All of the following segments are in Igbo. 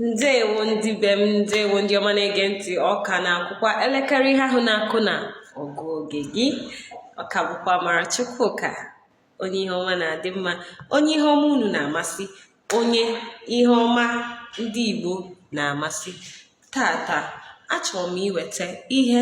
ndewo ndị be m ndewo ndị ọma na-ege ntị ọ ka na-akụkwa elekere ihe ahụ na-akụ na ọgụ oge gị ọ ka bụkwa amara chukwuka onye ihe ọma na-adị mma onye ihe ọma unu na-amasị onye ihe ọma ndị igbo na-amasị Tata, achọrọ m iweta ihe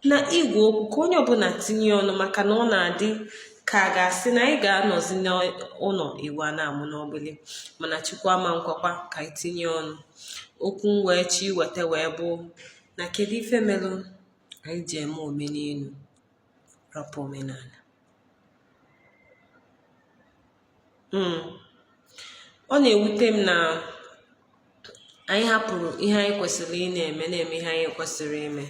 na igwe okwu ka onye ọbụla tinye ọnụ maka na ọ na-adị ka a ga-asị na anyị ga-anọzi n'ụnọ ewu a na-amụ n'ọgbụlị mana Chukwu ama ekwekwa ka anyị tinye ọnụ okwu m wee chọ iweta wee bụ na kedu ife melụ anyị ji eme omenelu rapụ omenala hmm. ọ na-ewute m na anyị hapụrụ ihe anyị kwesịrị ịna-eme na-eme ihe anyị kwesịrị ime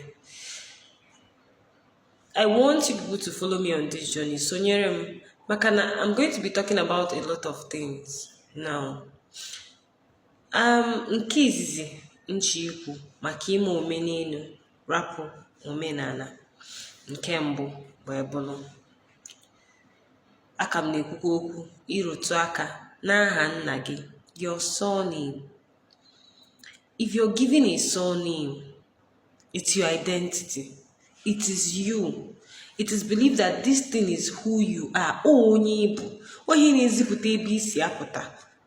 I want you people to follow me on this journey sonyere m maka na I'm going to be talking about a lot of things now Nke izizi m chọ ikwu maka ime omenelu rapụ omenala nke mbụ bụ ebụlụ aka m na-ekwukwa okwu ịrụtụ aka n'aha nna gị your surname if you're given a surname it's your identity it is you it is believed that this thing is who you are onye ị bụ ọ ya na-ezipụta ebe i si apụta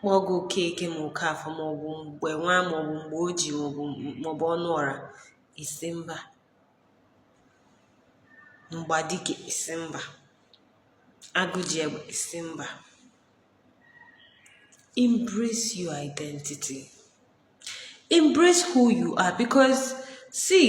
kpọọ gị okeke ma okafọ maọbụ mgbenwa maọbụ mgbeoji maọbụ maọbụ ọnụọra ị sị mba mgbadike ị sị mba agụjiegbe ị sị mba embrace your identity embrace who you are because see